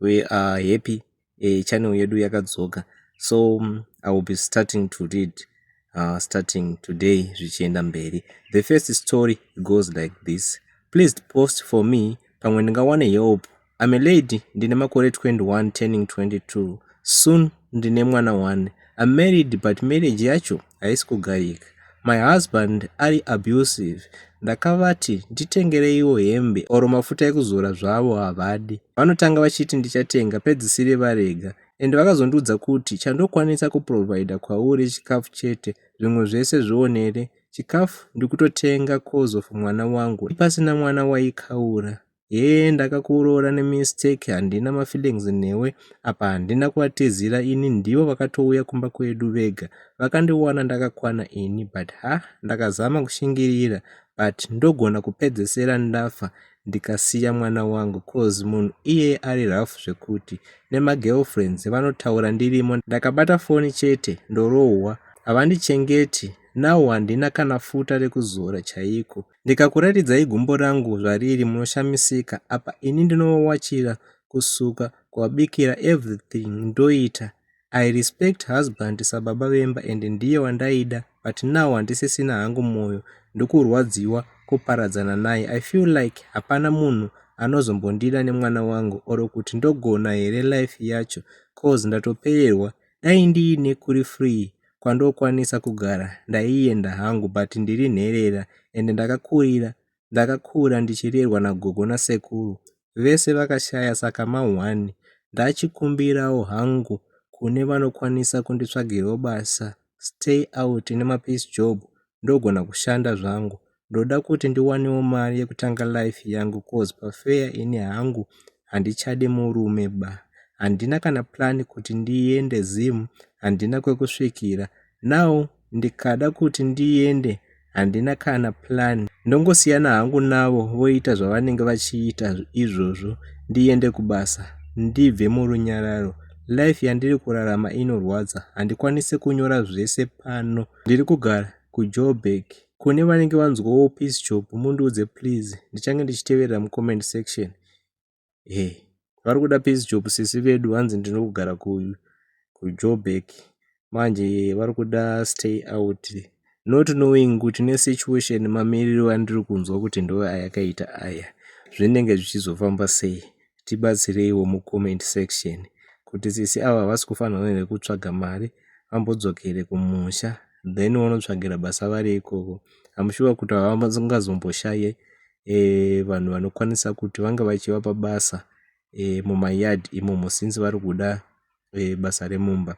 we are happy uh, channel yedu yakadzoka so um, i will be starting to read uh, starting today zvichienda mberi the first story goes like this please post for me pamwe ndingawane help I'm a lady ndine makore 21 turning 22 soon ndine mwana one I'm married but marriage yacho haisi kugarika my husband ari abusive ndakavati nditengereiwo hembe or mafuta ekuzora zvavo havadi vanotanga vachiti ndichatenga pedzisire varega and vakazondiudza kuti chandokwanisa kuprovider kwauri chikafu chete zvimwe zvese zvionere chikafu ndikutotenga coz of mwana wangu ipasina mwana waikaura hee ndakakuroora nemistake handina mafeelings newe apa handina kuvatizira ini ndivo vakatouya kumba kwedu vega vakandiwana ndakakwana ini but ha ndakazama kushingirira but ndogona kupedzesera ndafa ndikasiya mwana wangu cause munhu iyeye ari rough zvekuti nemagirlfriends vanotaura ndirimo ndakabata foni chete ndorohwa havandichengeti now handina kana futa rekuzora chaiko Ndikakuratidzai gumbo rangu zvariri munoshamisika apa ini ndinovawachira kusuka kuwabikira everything ndoita I respect husband sababa vemba and ndiye wandaida but now handisisina hangu mwoyo ndokurwadziwa kuparadzana naye I feel like hapana munhu anozombondida nemwana wangu or kuti ndogona here life yacho cause ndatopererwa dai ndiine kuri free kwandokwanisa kugara ndaienda hangu but ndiri nherera ende ndakakurira ndakakura ndichirerwa nagogo nasekuru vese vakashaya saka ma one ndachikumbirawo hangu kune vanokwanisa kunditsvagirawo basa stay out nemapeace job ndogona kushanda zvangu ndoda kuti ndiwanewo mari yekutanga life yangu coz pafeya ini hangu handichadi murume ba handina kana plan kuti ndiende zim handina kwekusvikira now ndikada kuti ndiende handina kana plan ndongosiyana hangu navo voita zvavanenge vachiita izvozvo ndiende kubasa ndibve murunyararo life yandiri kurarama inorwadza handikwanise kunyora zvese pano ndiri kugara kujoburg kune vanenge vanzwawo peace job mundiudze please ndichange ndichiteverera mucomment section e vari kuda peace job sisi vedu hanzi ndinogara kujoburg manje vari kuda stay out not knowing kuti nesituation mamiriro andiri kunzwa kuti ndo ayakaita aya zvinenge zvichizofamba sei tibatsireiwo mu comment section kuti sisi ava havasi kufanirwa here kutsvaga mari vambodzokere kumusha then vonotsvagira basa vari ikoko am sure kuti havangazomboshaya eh, vanhu vanokwanisa kuti vanga vachivapa basa eh, mumayard imomo since vari kuda e, basa remumba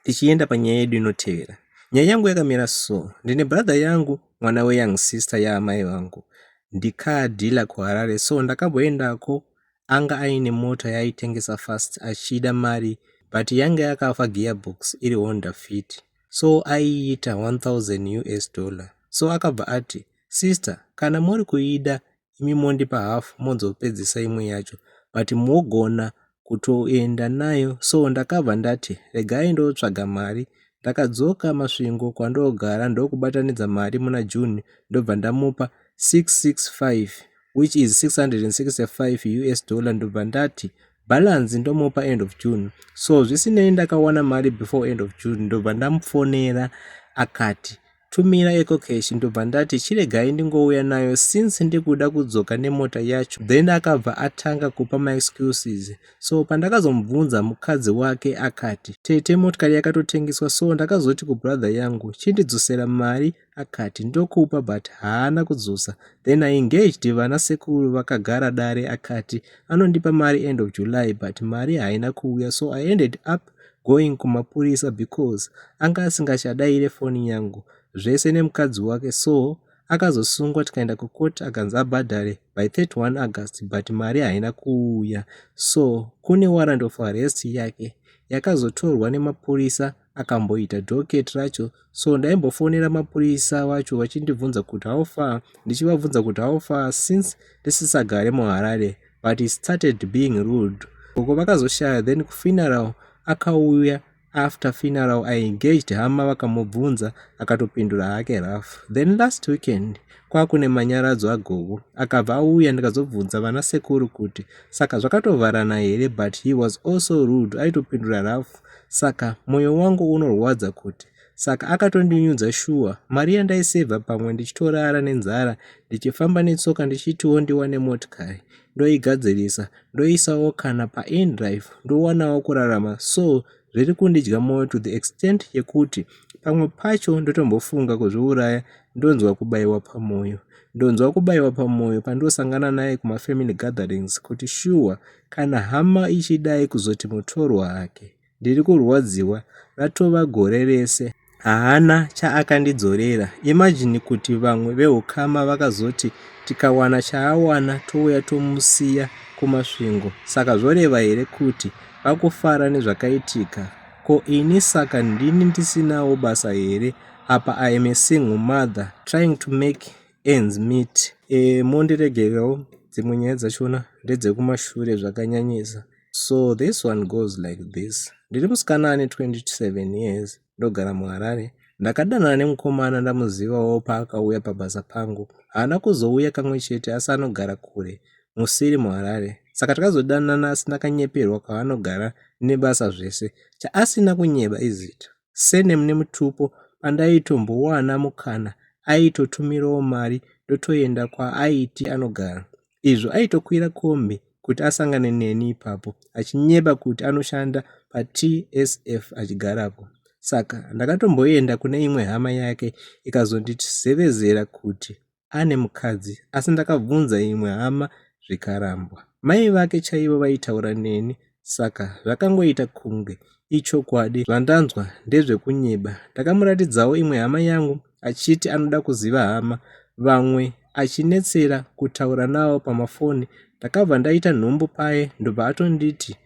tichienda panyaya yedu inotevera nyaya yangu yakamira so ndine brother yangu mwana weyoung sister yaamai vangu ndikadhila kuharare so ndakamboendako anga aine mota yaaitengesa fast achida mari but yange yakafa gearbox iri honda fit so aiita 1000 us dollar so akabva ati sister kana muri kuida imi mondipa half mozopedzisa imwe yacho but mogona kutoenda nayo so ndakabva ndati regai ndotsvaga mari ndakadzoka masvingo kwandogara ndokubatanidza mari muna june ndobva ndamupa 665 which is 665 us dollar ndobva ndati balance ndomupa end of june so zvisinei ndakawana mari before end of june ndobva ndamufonera akati Tumira ecocash ndobva ndati chiregai ndingouya nayo since ndikuda kudzoka nemota yacho then akabva atanga kupa maexcuses so pandakazomubvunza mukadzi wake akati tete motikari yakatotengeswa so ndakazoti kubrother yangu chindidzosera mari akati ndokupa but haana kudzosa then i engaged vana sekuru vakagara dare akati anondipa mari end of july but mari haina kuuya so i ended up going kumapurisa because anga asingachadaire foni yangu zvese nemukadzi wake so akazosungwa tikaenda kucourt akanzi abhadhare by 31 august but mari haina kuuya so kune warrant of arrest yake yakazotorwa nemapurisa akamboita docket racho so ndaimbofonera mapurisa vacho vachindibvunza kuti how far ndichivabvunza kuti how far since ndisisagare muharare but he started being rude uko vakazoshaya then kufuneral akauya after funeral i engaged hama vakamubvunza akatopindura hake rough then last weekend kwakune manyaradzo agogo akabva auya ndikazobvunza vana sekuru kuti saka zvakatovharana here but he was also rude aitopindura rough Saka moyo wangu unorwadza kuti saka akatondinyudza shuwa mari yandaisevha pamwe ndichitorara nenzara ndichifamba netsoka ndichitiwo ndiwane motikari ndoigadzirisa ndoisawo kana paindrive ndowanawo kurarama so zviri kundidya moyo to the extent yekuti pamwe pacho ndotombofunga kuzviuraya ndonzwa kubayiwa pamoyo ndonzwa kubayiwa pamoyo pandosangana naye kumafamily gatherings kuti shuwa sure, Kana hama ichidai kuzoti mutorwa hake ndiri kurwadziwa ratova gore rese haana chaakandidzorera imagine kuti vamwe veukama vakazoti tikawana chaawana touya tomusiya kumasvingo saka zvoreva here kuti vakufara nezvakaitika ko ini saka ndini ndisinawo basa here apa i am a single mother trying to make Ends meet eh, mondiregererawo dzimwe nyaya dzachona ndedzekumashure zvakanyanyisa so this one goes like this ndiri musikana ane 27 years ndogara muharare ndakadanana nemukomana ndamuzivawo paakauya pabasa pangu haana kuzouya kamwe chete asi anogara kure musiri muharare saka takazodanana asi ndakanyeperwa kwaanogara nebasa zvese chaasina kunyeba izita surname nemutupo pandaitombowana mukana aitotumirawo mari ndotoenda kwaaiti anogara izvo aitokwira kombi kuti asangane neni ipapo achinyeba kuti anoshanda patsf achigarapo saka ndakatomboenda kune imwe hama yake ikazonditizevezera kuti ane mukadzi asi ndakabvunza imwe hama zvikarambwa mai vake chaivo vaitaura neni saka zvakangoita kunge ichokwadi zvandanzwa ndezvekunyeba ndakamuratidzawo imwe hama yangu achiti anoda kuziva hama vamwe achinetsera kutaura nawo pamafoni ndakabva ndaita nhumbu paye ndobva atonditi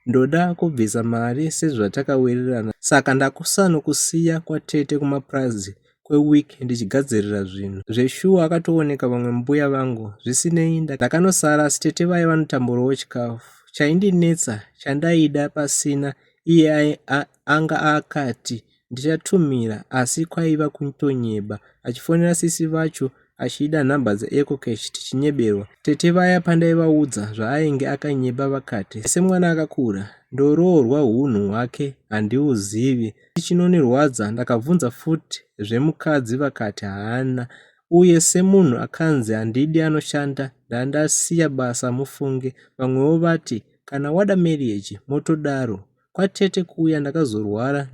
ndoda kubvisa mari sezvatakawirirana saka ndakusanokusiya kwatete kumapurazi kweweek ndichigadzirira zvinhu. Zveshuwa akatooneka vamwe mbuya vangu zvisinei ndakanosara asi tete vaye vanotamburawo chikafu. Chaindinetsa chandaida pasina iye anga akati ndichatumira asi kwaiva kutonyeba achifonera sisi vacho achiida nhamba dzeEcocash tichinyeberwa. Tete vaya pandaivaudza zvaainge akanyeba vakati semwana akakura ndoroorwa hunhu hwake handiuzivi. Chinonirwadza ndakabvunza futi zvemukadzi vakati haana uye semunhu akanzi handidi anoshanda ndandasiya basa mufunge vamwewo vati kana wada marriage motodaro kwatete kuya ndakazorwara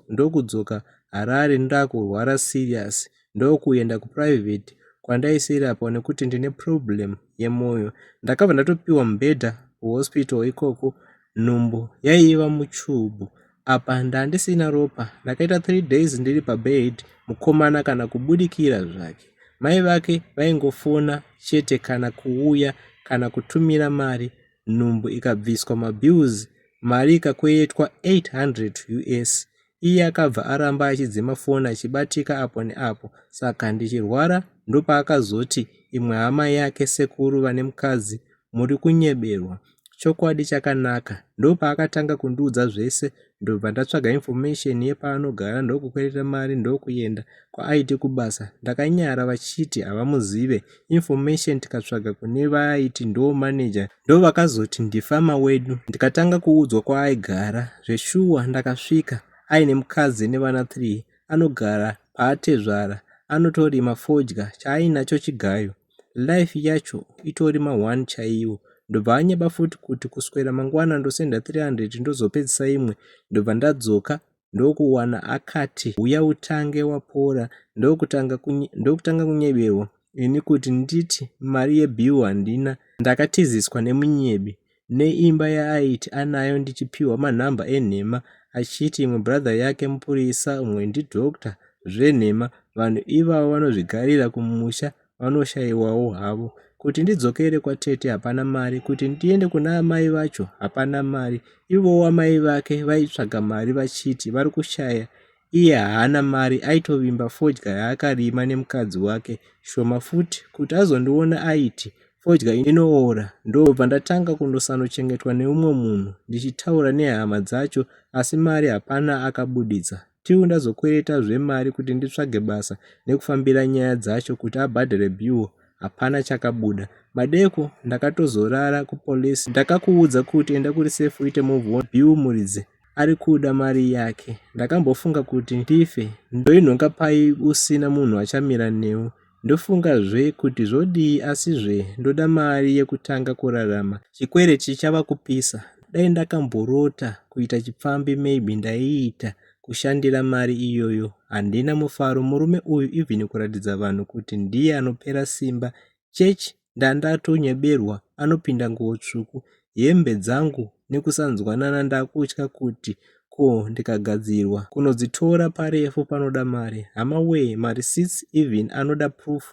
ndokudzoka Harare ndakurwara serious ndokuenda kuprivate kwandaisirapwa nekuti ndine problem yemoyo ndakabva ndatopiwa mubhedha kuhospital ikoko nhumbu yaiva muchubhu apa ndandisina ropa ndakaita three days ndiri pabed mukomana kana kubudikira zvake mai vake vaingofona chete kana kuuya kana kutumira mari nhumbu ikabviswa mabills mari ikakweyetwa 800 us iye akabva aramba achidzima foni achibatika apo neapo saka ndichirwara ndopaakazoti imwe hama yake sekuru vane mukadzi muri kunyeberwa chokwadi chakanaka ndopaakatanga kundiudza zvese ndobva ndatsvaga information yepaanogara ndokukwereta mari ndokuenda kwaaiti kubasa ndakanyara vachiti havamuzive information tikatsvaga kune vaaiti ndo manager ndovakazoti ndifama wedu ndikatanga kuudzwa kwaaigara zveshuwa ndakasvika aine mukadzi nevana 3 anogara paatezvara anotorima fodya chaainacho chigayo life yacho itori ma1 chaiwo ndobva anyeba futi kuti kuswera mangwana ndosenda 300 ndozopedzisa imwe ndobva ndadzoka ndokuwana akati huya utange wapora ndokutanga kunye, ndokutanga kunyeberwa ini kuti nditi mari yebill handina ndakatiziswa nemunyebi neimba yaaiti anayo ndichipiwa manhamba enhema achiti imwe brother yake mupurisa umwe ndidoctor zvenhema vanhu ivavo vanozvigarira kumusha vanoshaiwawo havo kuti ndidzokere kwatete hapana mari kuti ndiende kuna amai vacho hapana mari ivowo amai vake vaitsvaga mari vachiti vari kushaya iye haana mari aitovimba fodya yaakarima nemukadzi wake shoma futi kuti azondiona aiti fodya inoora ndobva ndatanga kundosanochengetwa neumwe munhu ndichitaura nehama dzacho asi mari hapana akabuditsa till ndazokwereta zvemari kuti nditsvage basa nekufambira nyaya dzacho kuti abhadhare bill hapana chakabuda madeko ndakatozorara kupolice ndakakuudza kuti enda kuri safe uite move on bill muridzi ari kuda mari yake ndakambofunga kuti ndife ndoinhonga pai usina munhu achamira newe Ndofunga zve kuti zvodii asi zve ndoda mari yekutanga kurarama. Chikwereti chava kupisa. Dai ndakamborota kuita chipfambi maybe ndaiita kushandira mari iyoyo. Handina mufaro murume uyu even kuratidza vanhu kuti ndiye anopera simba. Church ndandatonyeberwa anopinda nguwo tsvuku hembe dzangu nekusanzwanana ndakutya kuti ko ndikagadzirwa kunodzitora parefu panoda mari hama wee mareceipts even anoda proof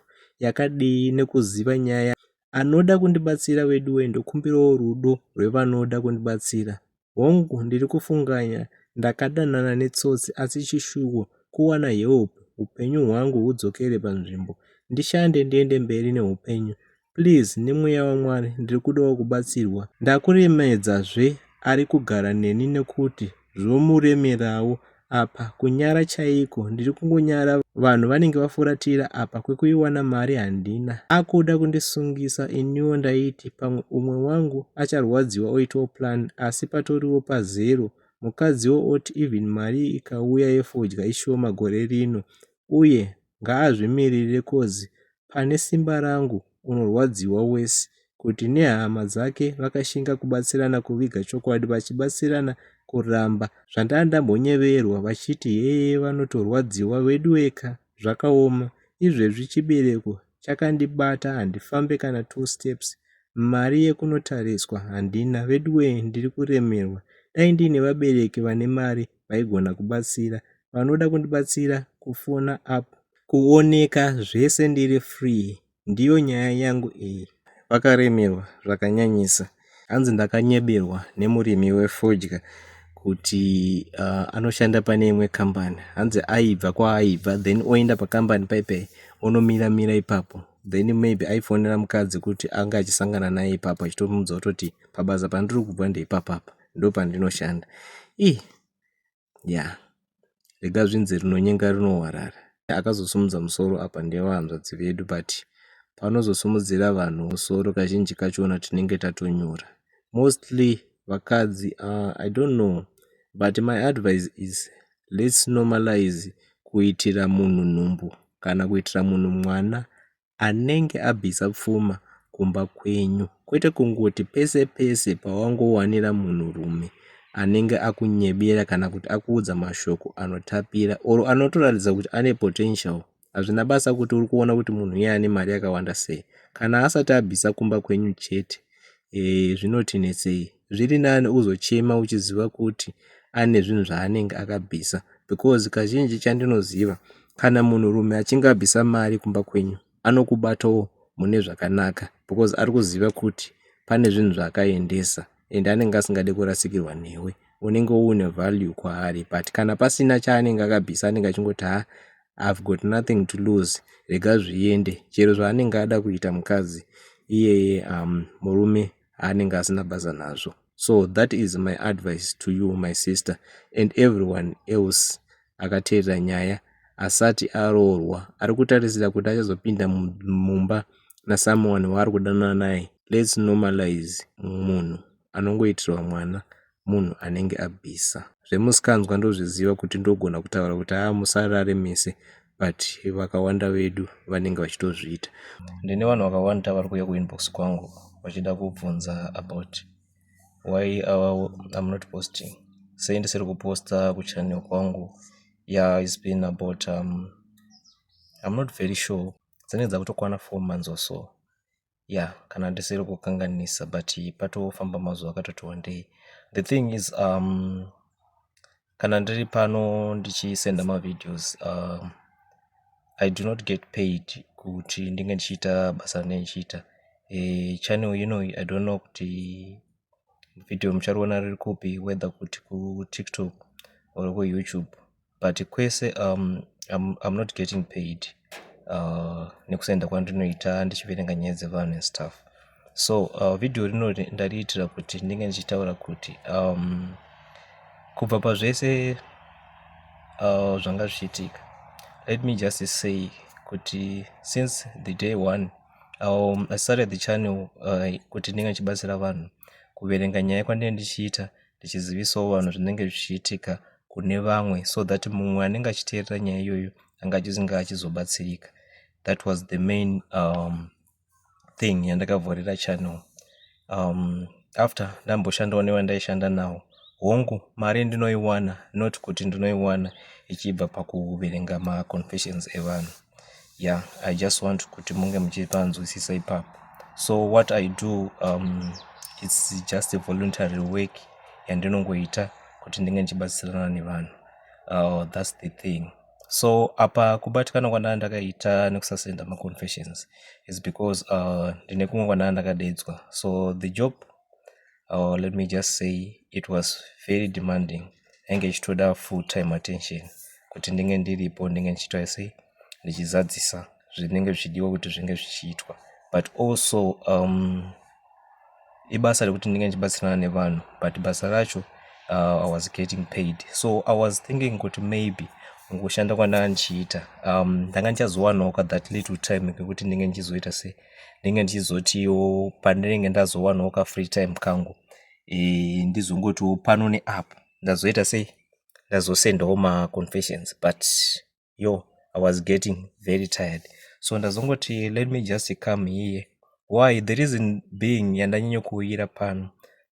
yakadii nekuziva nyaya anoda kundibatsira veduwee ndokumbirawo rudo rwevanoda kundibatsira Hongu ndiri kufunganya ndakadanana netsotsi asi chishuwo kuwana help hupenyu hwangu hudzokere panzvimbo ndishande ndiende mberi neupenyu please nemweya wamwari ndiri kudawo kubatsirwa ndakuremedzazve ari kugara neni nekuti zvomuremerawo apa kunyara chaiko ndiri kungonyara vanhu vanenge vafuratira apa kwekuiwana mari handina akuda kundisungisa iniwo ndaiti pamwe umwe wangu acharwadziwa oitawo plan asi patoriwo pazero mukadziwo oti even mari ikauya yefodya ishoma gore rino uye ngaazvimirire coz pane simba rangu unorwadziwa worse kuti nehama dzake vakashinga kubatsirana kuviga chokwadi vachibatsirana kuramba zvandanga ndambonyeverwa vachiti heye vanotorwadziwa veduweka zvakaoma izvezvi chibereko chakandibata handifambe kana two steps mari yekunotariswa handina veduwee ndiri kuremerwa dai ndiine vabereki vane mari vaigona kubatsira vanoda kundibatsira kufona up kuoneka zvese ndiri free ndiyo nyaya yangu iyi vakaremerwa zvakanyanyisa hanzi ndakanyeberwa nemurimi wefodya kuti uh, anoshanda pane imwe kambani hanzi aibva kwaaibva then oenda pakambani paipai onomira mira ipapo then maybe aifonera mukadzi kuti anga achisangana naye ipapo achitomuudza kutoti pabasa pandiri kubva ndeipapapa ndopandinoshanda ii ya rega zvinzi rinonyenga rinowarara akazosumudza musoro apa ndevahanzvadzi vedu but panozosumudzira vanhu musoro kazhinji kachona tinenge tatonyura mostly vakadzi uh, i don't know but my advice is let's normalize kuitira munhu nhumbu kana kuitira munhu mwana anenge abvisa pfuma kumba kwenyu kwete kungoti pese pese pawangowanira munhurume anenge akunyebera kana kuti akuudza mashoko anotapira or anotoratidza kuti ane potential hazvina basa kuti uri kuona kuti munhu iye ane mari yakawanda sei kana asati abvisa kumba kwenyu chete eh, zvinoti netsei zviri nani uzochema uchiziva kuti ane zvinhu zvaanenge akabvisa because kazhinji chandinoziva kana munhu rume achinge abvisa mari kumba kwenyu anokubatawo mune zvakanaka because ari kuziva kuti pane zvinhu zvaakaendesa and anenge asingade kurasikirwa newe unenge uine value kwaari but kana pasina chaanenge akabvisa anenge achingoti ha I've got nothing to lose rega zviende chero zvaanenge ada kuita mukadzi iyeye um, murume aanenge asina basa nazvo so that is my advice to you my sister and everyone else akateerera nyaya asati aroorwa ari kutarisira kuti achazopinda mumba nasomeone waari kudanana naye lets normalize munhu anongoitirwa mwana munhu anenge abvisa. Zvemusikanzwa ndozviziva kuti ndogona kutaura kuti haa musarare mese but vakawanda vedu vanenge vachitozviita. Ndine vanhu vakawanda vari kuuya kuinbox kwangu vachida kubvunza about why our, I'm not posting sei ndisiri kuposta kuchannel kwangu yeah it's been about um, I'm not very sure dzinenge dzakutokwana four months or so ya kana ndisiri kukanganisa but patofamba mazuva akatoti wandei the thing is um, kana ndiri pano ndichisenda mavideos um, i do not get paid kuti ndinge ndichiita basa rine ndichiita e, eh, channel ino i don't know kuti video muchariona riri kupi whether kuti kutiktok or kuyoutube but kwese um, I'm, I'm not getting paid uh, nekusenda kwandinoita ndichiverenga nyaya dzevanhu and stuff so uh, video rino ndariitira kuti ndinge ndichitaura kuti um, kubva pazvese uh, zvanga zvichiitika let me just say kuti since the day one um, i started the channel uh, kuti ndinge ndichibatsira vanhu kuverenga nyaya kwandinge ndichiita ndichizivisawo vanhu zvinenge zvichiitika kune vamwe so that mumwe anenge achiteerera nyaya iyoyo anga achizinge achizobatsirika that was the main um, thing yandakavhorera channel um, after ndamboshandawo nevandaishanda nawo hongu mari ndinoiwana not kuti ndinoiwana ichibva pakuverenga maconfessions evanhu yeah i just want kuti munge muchipanzwisisa ipapo so what i do um, its just a voluntary work yandinongoita kuti ndinge ndichibatsirana nevanhu uh, thats the thing so apa kubatikana kwandaa ndakaita nekusasenda maconfessions is because uh, ndine kumwe kwandaa ndakadedzwa so the job or let me just say it was very demanding ainge ichitoda full time attention kuti ndinge ndiripo ndinge ndichiitwa sei ndichizadzisa zvinenge zvichidiwa kuti zvinge zvichiitwa but also um, ibasa rekuti ndinge ndichibatsirana nevanhu but basa racho uh, i was getting paid so i was thinking kuti maybe kushanda kwandanga ndichiita um, ndanga ndichazowanawo ka that little time kekuti ndinge ndichizoita sei ndenge ndichizotiwo pandinenge ndazowanawo ka free time kangu e, ndizongotiwo pano neapo ndazoita sei ndazosendawo maconfessions but yo i was getting very tired so ndazongoti let me just come here why the reason being yandanyanyokuuyira pano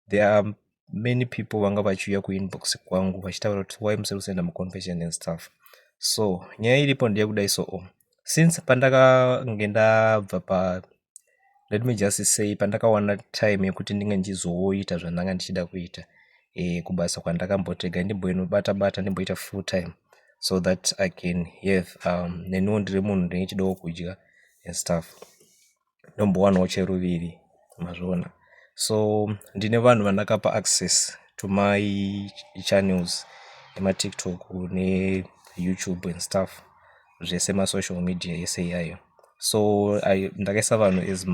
there are many people vanga vachiuya kuinbox kwangu vachitaura kuti why musiri kusenda muconfession and stuff so nyaya iripo ndeyekudai so o since pandakange ndabva pa let me just say pandakawana time yekuti ndinge ndichizoita zvandanga ndichida kuita e, kubasa kwandakambotega ndimboinobata bata ndimboita full time so that i can have um, neniwo ndiri munhu ndinge chidawo kudya and stuff ndombowanawo cheruviri mazviona so ndine vanhu vandakapa access to my channels ematiktok neyoutube and stuff zvese masocial media ese iyayo so ndakaisa vanhu as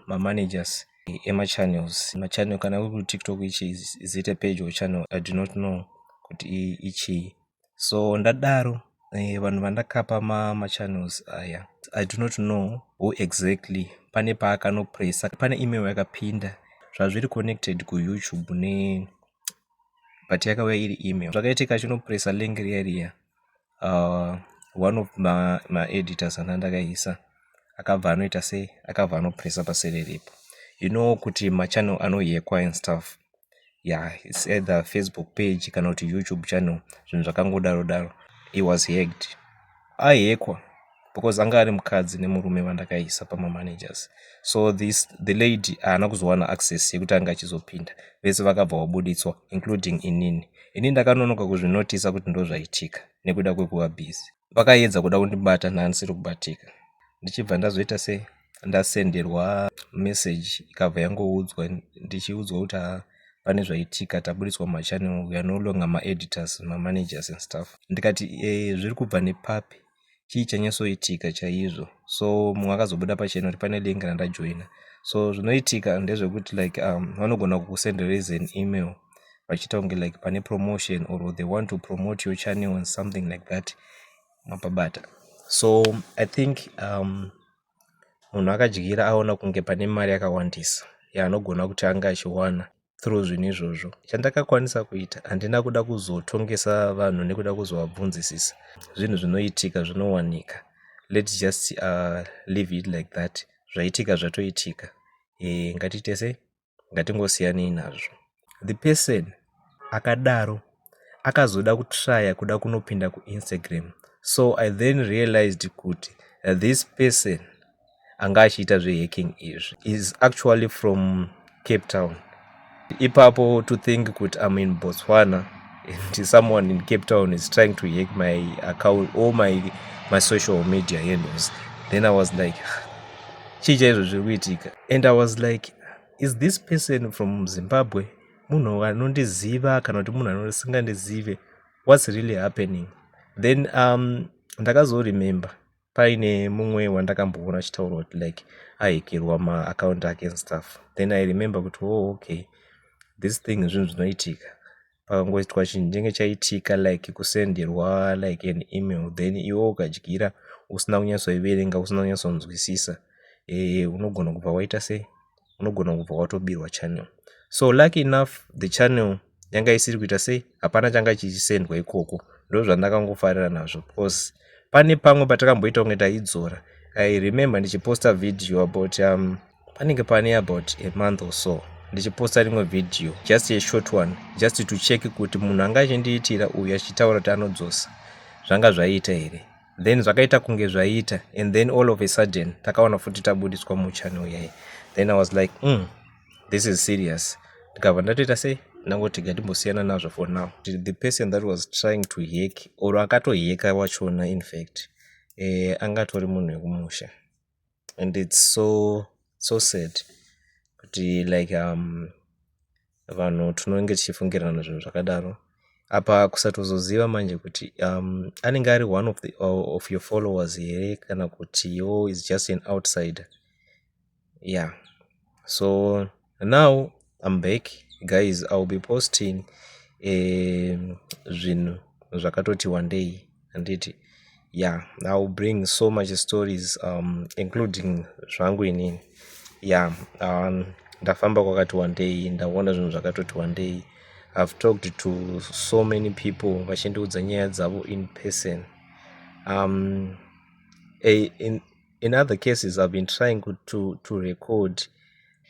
mamanagers ma emachannels machannel kana uri kutiktok ichi is it a page or channel i do not know kuti ichii so ndadaro eh, vanhu vandakapa machannels aya i do not know who exactly pane paakanopressa pane email yakapinda zvazviri connected kuyoutube ne but yakauya iri email zvakaitika achinopressa link riya riya uh, one of maeditors ma ana ndakaisa akabva anoita sei akabva anopressa paseri ripo you know kuti machannel anoyekwa and stuff yeah it's either Facebook page kana kuti YouTube channel zvinhu zvakangodaro daro he was hacked ahekwa because anga ari mukadzi nemurume vandakaisa pamamanagers so this the lady haana kuzowana access yekuti anga achizopinda vese vakabva vabuditswa including inini ini ndakanonoka kuzvinotisa kuti ndozvaitika nekuda kwekuva busy vakaedza kuda kundibata ndandisiri kubatika ndichibva ndazoita se ndasenderwa message ikabva yangoudzwa ndichiudzwa kuti haa pane zvaitika taburitswa machannel we are no longer maeditors mamanagers and stuff ndikati e, zviri kubva nepapi chii chanyasoitika chaizvo so mumwe akazobuda pachena kuti pane link randajoina so zvinoitika ndezvekuti like um, vanogona kukusendereza an email vachiita kunge like pane promotion or they want to promote your channel and something like that mapabata so i think um, munhu akadyira aona kunge pane mari yakawandisa yaanogona kuti ange achiwana through zvinhu izvozvo chandakakwanisa kuita handina kuda kuzotongesa vanhu nekuda kuzovabvunzisisa zvinhu zvinoitika zvinowanika lets just uh, leave it like that zvaitika zvatoitika e, ngatiite sei ngatingosiyanei nazvo the person akadaro akazoda kutraya kuda kunopinda kuinstagram so i then realized kuti this person anga achiita zvehacking izvi is actually from cape town ipapo to think kuti am in botswana and someone in cape town is trying to hack my account or my, my social media handles then i was like chii chaizvo zviri kuitika and i was like is this person from zimbabwe munhu anondiziva kana kuti munhu anosingandizive what's really happening then um, ndakazoremember paine mumwe wandakamboona achitaura kuti like ahekirwa maacount ake and stuff then i remember kuti o oh, okay this thing zvinhu zvinoitika pakangoitwa chinhu chenge chaitika like kusenderwa like an email then iwe ukadyira usina kunyatsoiverenga usina kunyatsonzwisisa e unogona kubva waita sei unogona kubva watobirwa channel so lucky enough the channel yanga isiri kuita sei hapana changa chichisendwa ikoko ndo zvandakangofarira nazvo because pane pamwe patakamboita kunge taidzora i remember ndichiposta video about um, panenge pane about a month or so ndichiposta rimwe video just a short one just to check kuti munhu anga achindiitira uyu achitaura kuti anodzosa zvanga zvaiita here then zvakaita kunge zvaiita and then all of a sudden takawana futi tabudiswa muchannel yaye then i was like mm, this is serious ndikabva ndatoita sei ndangoti gatimbosiyana nazvo for now the person that was trying to hek or akatoheka wachona infact eh, angatori munhu wekumusha and it's so so sad kuti like um vanhu tinonge tichifungirana zvinhu zvakadaro apa kusatozoziva manje kuti um anenge ari one of the of your followers here kana kuti yo is just an outsider yeah so now I'm back guys I'll be posting eh, zvinhu zvakatoti wandei handiti yeah I'll bring so much stories um, including zvangu inini yeah um, ndafamba kwakati wandei ndaona zvinhu zvakatoti wandei I've talked to so many people vachindiudza nyaya dzavo in person um, a, in, in other cases I've been trying to, to record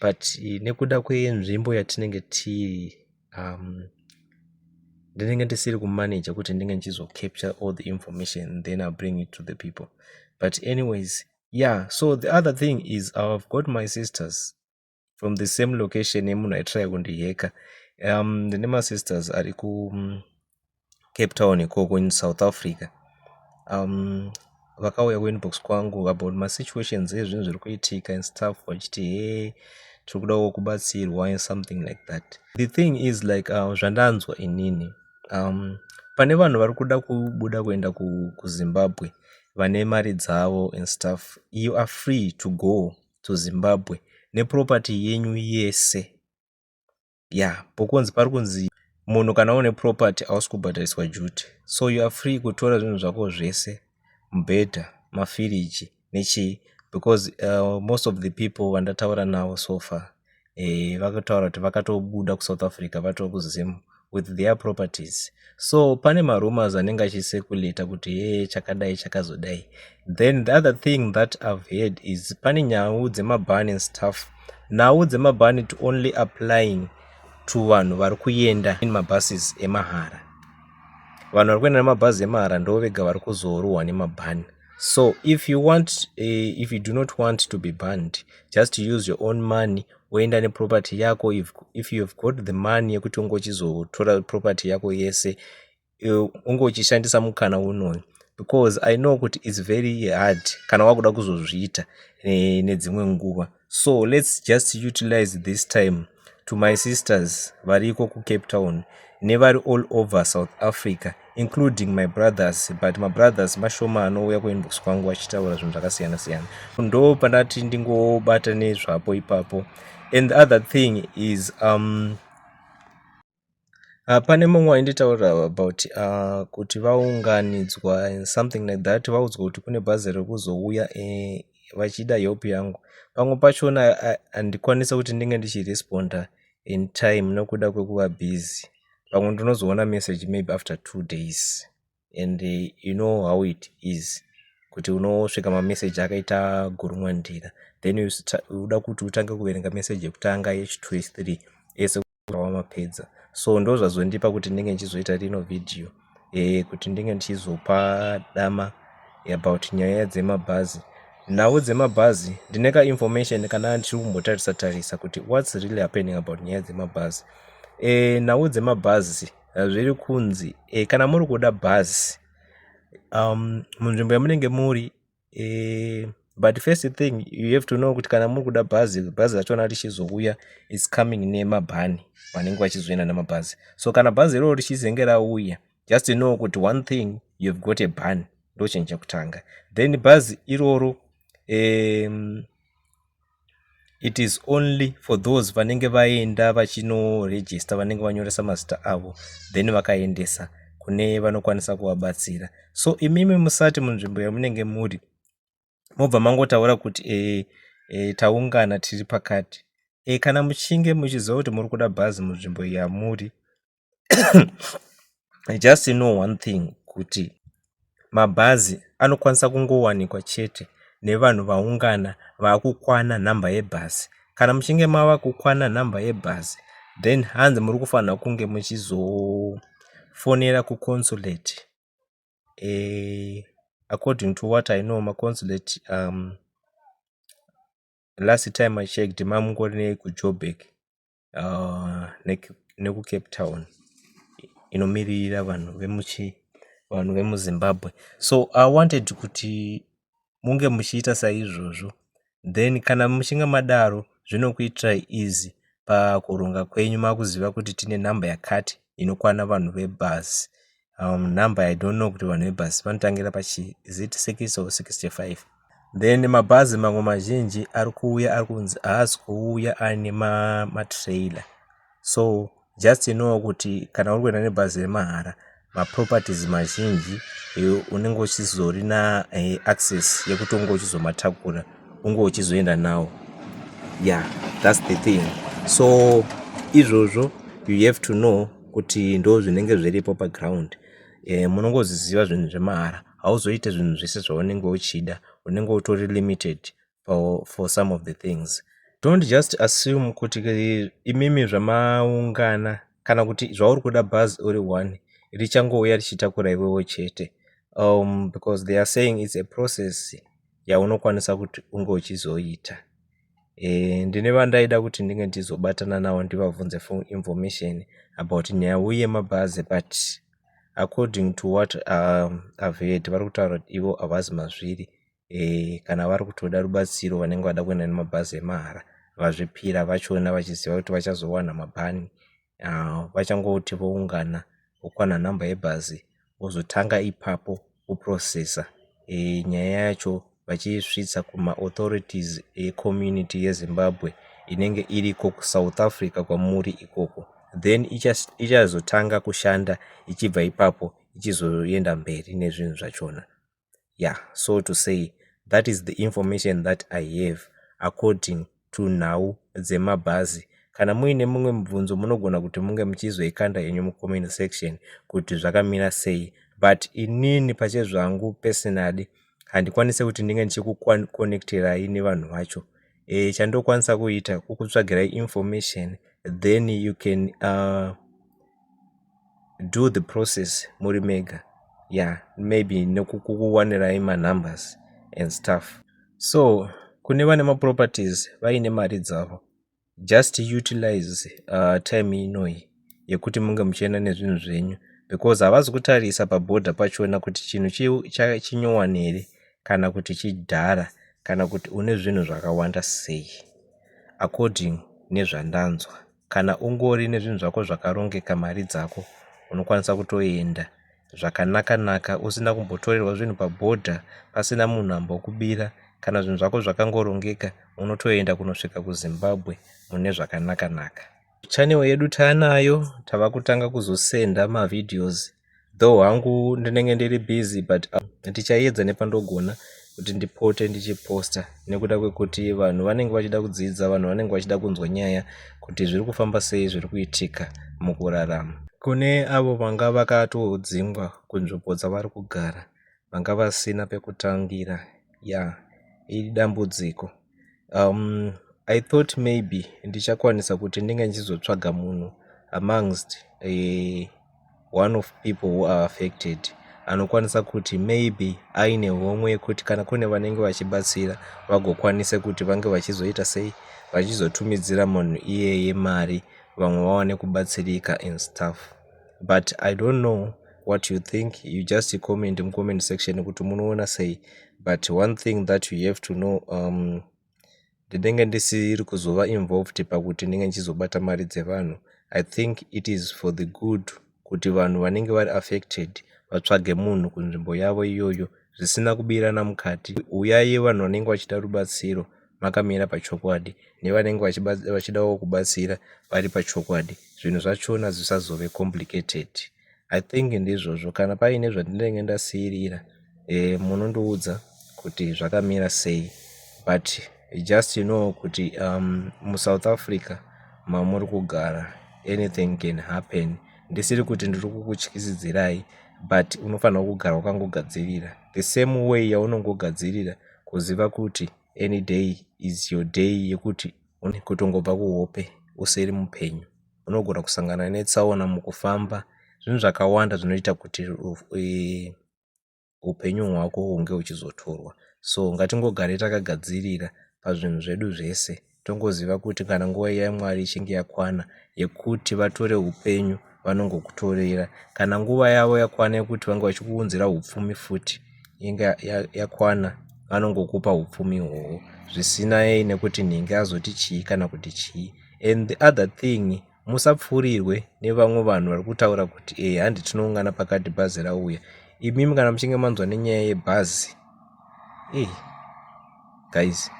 but nekuda kwenzvimbo yatinenge tiri um, ndinenge ndisiri kumanaja kuti ndinge ndichizocapture all the information then i bring it to the people but anyways yeah so the other thing is i've got my sisters from the same location yemunhu aitry kundiheka um ndine masisters ari ku Cape Town ikoko in South Africa. Vakauya ku inbox kwangu about ma situations ezvinhu zviri kuitika and stuff vachiti hee tiri kudawo kubatsirwa and something like that. The thing is like uh, zvandanzwa inini um, pane vanhu vari kuda kubuda kuenda kuzimbabwe ku vane mari dzavo and stuff you are free to go to zimbabwe neproperty yenyu yese yeah pokunzi pari kunzi munhu kana une property hausi kubhadhariswa duty so you are free kutora zvinhu zvako zvese mubhedha mafiriji nechii because uh, most of the people vandataura navo so far eh, vakataura kuti vakatobuda kusouth africa vatova kuzim with their properties so pane marumors anenge achiseculator kuti ye chakadai chakazodai then the other thing that i've heard is pane nyau dzemabhan and stuff nhau dzemabhani to only applying to vanhu vari kuenda in mabuses emahara vanhu vari kuenda nemabhazi emahara ndo vega vari kuzorohwa nemabhani so if you want uh, if you do not want to be banned just use your own money woenda neproperty yako if, if you have got the money yekuti ungochizotora property yako yese unge uchishandisa mukana unoyu because i know kuti its very hard kana wakuda kuzozviita eh, nedzimwe nguva so lets just utilize this time to my sisters variko kucape town nevari all over south africa including my brothers but mabrothers mashoma anouya kuinbox kwangu vachitaura zvinhu zvakasiyana siyana ndo pandati ndingobata nezvapo ipapo and the other thing is um, Ah, pane mumwe wainditaurira about ah, kuti vaunganidzwa and something like that vaudzwa kuti kune bhazi riri kuzouya eh, vachida help yangu pamwe pachona ah, handikwanisa kuti ndinge ndichiresponda in time nokuda kwekuva busy pamwe ndinozoona message maybe after two days and you know how it is kuti unosvika mamessage akaita gurumwa ndira then uda kuti utange kuverenga message yekutanga yechitwo yechithree ese wamapedza so ndo zvazondipa kuti ndinge ndichizoita rino vhidhiyo e, kuti ndinge ndichizopa dama about nyaya dzemabhazi nhau dzemabhazi ndine kainformation kana ndiri kumbotarisa tarisa kuti whats really happening about nyaya dzemabhazi e, nhau dzemabhazi zviri kunzi e, kana muri kuda bhazi um, munzvimbo yamunenge muri e, but first thing you have to know kuti kana muri kuda bhazi bhazi rachona richizouya its coming nemabhani vanenge vachizoenda nemabhazi so kana bhazi iroro richizenge rauya just know kuti one thing you have got a ban ndochinja kutanga then bhazi iroro um, it is only for those vanenge vaenda vachinoregista vanenge vanyoresa mazita avo then vakaendesa kune vanokwanisa kuvabatsira so imimi musati munzvimbo yamunenge muri mobva mangotaura kuti e, e, taungana tiri pakati e, kana muchinge muchiziva kuti muri kuda bhazi munzvimbo yamuri I just know one thing kuti mabhazi anokwanisa kungowanikwa chete nevanhu vaungana vakukwana nhamba yebhazi kana muchinge mava kukwana nhamba yebhazi then hanzi muri kufanira kunge muchizofonera kuconsulate e, according to what i know maconsulate um, last time i checked mamungori nei kujobek uh, nekucape town inomiririra vanhu vemuchi vanhu vemuzimbabwe so i wanted kuti munge muchiita saizvozvo then kana muchinge madaro zvinokuitirai easy pakuronga kwenyu makuziva kuti tine nhamba yakati inokwana vanhu vebhazi um, number i don't know kuti vanhu vebhasi vanotangira pachi is it 6 or 65 then mabhazi mamwe mazhinji ari kuuya ari kunzi haasi kuuya aine matrailer ma so just inowo kuti kana uri kuenda nebhazi remahara maproperties mazhinji eh, unenge uchizori na eh, access yekuti unge uchizomatakura unge uchizoenda nawo yeah thats the thing so izvozvo you have to know kuti ndo zvinenge zviripo paground e, munongoziziva zvinhu zvemahara hauzoite zvinhu zvese zvaunenge uchida unenge utori limited for, for some of the things don't just assume kuti eh, imimi zvamaungana kana kuti zvauri kuda bhazi uri one richangouya richitakura iwewo chete um, because they are saying its a process yaunokwanisa kuti unge uchizoita e, ndine vandaida kuti ndinge ndichizobatana navo ndivabvunze for information about nyaya uye mabhazi but according to what um, i've heard vari kutaura kuti ivo havazi mazviri e, kana vari kutoda rubatsiro vanenge vada kuenda nemabhazi emahara vazvipira vachiona vachiziva kuti vachazowana mabhani vachangoti voungana vokwana nhamba yebhazi vozotanga ipapo kuprocessor nyaya yacho vachiisvitsa kumaauthorities ecommunity yezimbabwe inenge iriko kusouth africa kwamuri ikoko then ichazotanga kushanda ichibva ipapo ichizoenda mberi nezvinhu zvachona ya so to say that is the information that i have according to nhau dzemabhazi kana muine mumwe mubvunzo munogona kuti munge muchizoikanda henyu mucomment section kuti zvakamira sei but inini pachezvangu personally handikwanise kuti ndinge ndichikuconnecterai nevanhu vacho e, chandokwanisa kuita kukutsvagirai information then you can uh, do the process muri mega yeah maybe nekukuwanirai manumbers and stuff so kune vane maproperties vaine mari dzavo just utilize uh, time inoyi yekuti munge muchienda nezvinhu zvenyu because havazi kutarisa paboda pachona kuti chinhu chinyowani here kana kuti chidhara kana kuti une zvinhu zvakawanda sei according nezvandanzwa kana ungori nezvinhu zvako zvakarongeka mari dzako unokwanisa kutoenda zvakanaka naka usina kumbotorerwa zvinhu pabhodha pasina munhu ambokubira kana zvinhu zvako zvakangorongeka unotoenda kunosvika kuzimbabwe mune zvakanaka naka channel yedu taanayo tava kutanga kuzosenda mavideos though hangu ndinenge ndiri busy but uh, ndichayedza nepandogona kuti ndipote ndichiposta nekuda kwekuti vanhu vanenge vachida kudzidza vanhu vanenge vachida kunzwa nyaya kuti zviri kufamba sei zviri kuitika mukurarama kune avo vanga vakatodzingwa kunzvimbo dzavari kugara vanga vasina pekutangira ya idambudziko Um, I thought maybe ndichakwanisa kuti ndinge ndichizotsvaga munhu amongst uh, one of people who are affected anokwanisa kuti maybe aine homwe yekuti kana kune vanenge vachibatsira vagokwanisa kuti vange vachizoita sei vachizotumidzira munhu iyeye mari vamwe vawane kubatsirika in stuff but i don't know what you think you just comment mucomment section kuti munoona sei but one thing that you have to know um, ndinenge ndisiri kuzova involved pakuti ndinenge ndichizobata mari dzevanhu i think it is for the good kuti vanhu vanenge vari affected vatsvage munhu kunzvimbo yavo iyoyo zvisina kubirana mukati uyai vanhu vanenge vachida rubatsiro makamira pachokwadi nevanenge vachidawo kubatsira vari pachokwadi zvinhu zvachona zvisazove complicated i think ndizvozvo kana paine zvandinenge ndasiirira e, munondiudza kuti zvakamira sei but just you know kuti um, musouth africa mamuri kugara anything can happen ndisiri kuti ndiri kukutyisidzirai but unofanira kugara wakangogadzirira the same way yaunongogadzirira Kuziva kuti any day is your day yekuti une kutongobva kuhope usiri mupenyu. Unogona kusangana netsaona mukufamba. Zvinhu zvakawanda zvinoita kuti eh, upenyu hwako hunge huchizotorwa. So ngatingogare takagadzirira pazvinhu zvedu zvese. tongoziva kuti kana nguva iya yamwari ichinge yakwana yekuti vatore upenyu vanongokutorera kana nguva yavo yakwana yekuti vange vachikuunzira upfumi futi inge yakwana vanongokupa upfumi hwohwo zvisinai nekuti nhingi azoti chii kana kuti chii and the other thing musapfuurirwe nevamwe vanhu vari kutaura kuti e eh, handi tinoungana pakati bhazi rauya imimi kana muchinge manzwa nenyaya yebhazi e eh, guys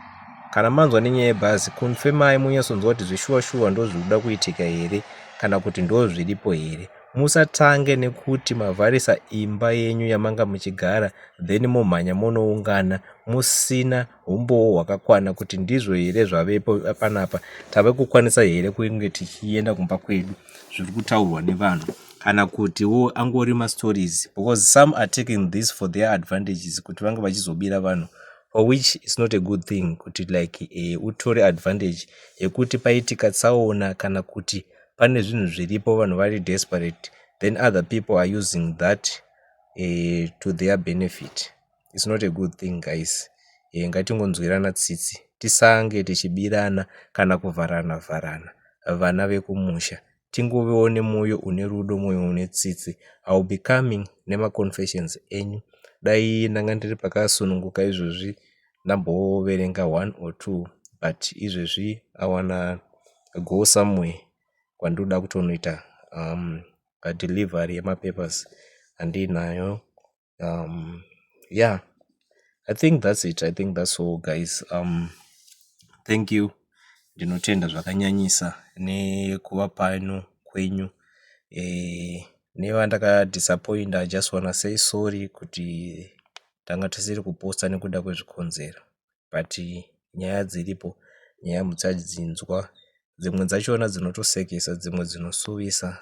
kana manzwa nenyaya yebhazi kunfemai munyasonzwa kuti zveshuwa shuwa ndo zviri kuda kuitika here kana kuti ndo zviripo here musatange nekuti mavharisa imba yenyu yamanga muchigara then momhanya monoungana musina humbowo hwakakwana kuti ndizvo here zvavepo panapa tave kukwanisa here kunge tichienda kumba kwedu zviri kutaurwa nevanhu kana kutiwo angori mastories because some are taking this for their advantages kuti vange vachizobira vanhu for which is not a good thing kuti like eh, utore advantage yekuti paitika tsaona kana kuti pane zvinhu zviripo vanhu vari desperate then other people are using that eh, to their benefit it's not a good thing guys e, ngatingonzwirana tsitsi tisange tichibirana kana kuvharana vharana vana vekumusha tingovewo nemwoyo une rudo mwoyo une tsitsi iwill be coming nemaconfessions enyu dai ndanga ndiri pakasununguka izvozvi ndamboverenga one or two but izvezvi awana go somewhere kwandoda kutonoita um, delivery yemapapers handiinayo um yeah i think that's it i think that's all guys um thank you ndinotenda zvakanyanyisa nekuva pano kwenyu eh, nevandakadisappointa i just wanna say sorry kuti tanga tisiri kuposta nekuda kwezvikonzero but nyaya dziripo nyaya muchadzinzwa dzimwe dzachona dzinotosekesa dzimwe dzinosuvisa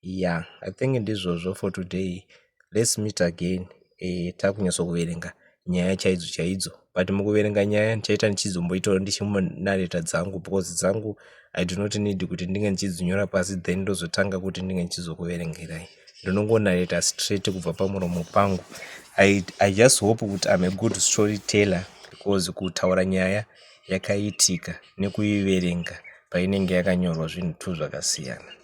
ya i think ndizvozvo for today lets meet again um takunyatso kuverenga nyaya chaidzo chaidzo but mukuverenga nyaya ndichaita ndichizomboitawo ndichimunareta dzangu because dzangu i do not need kuti ndinge ndichidzinyora pasi then ndozotanga kuti ndinge ndichizokuverengerai ndinongonareta straight kubva pamuromo pangu i, I just hope kuti im a good story teller because kutaura nyaya yakaitika nekuiverenga painenge yakanyorwa zvinhu two zvakasiyana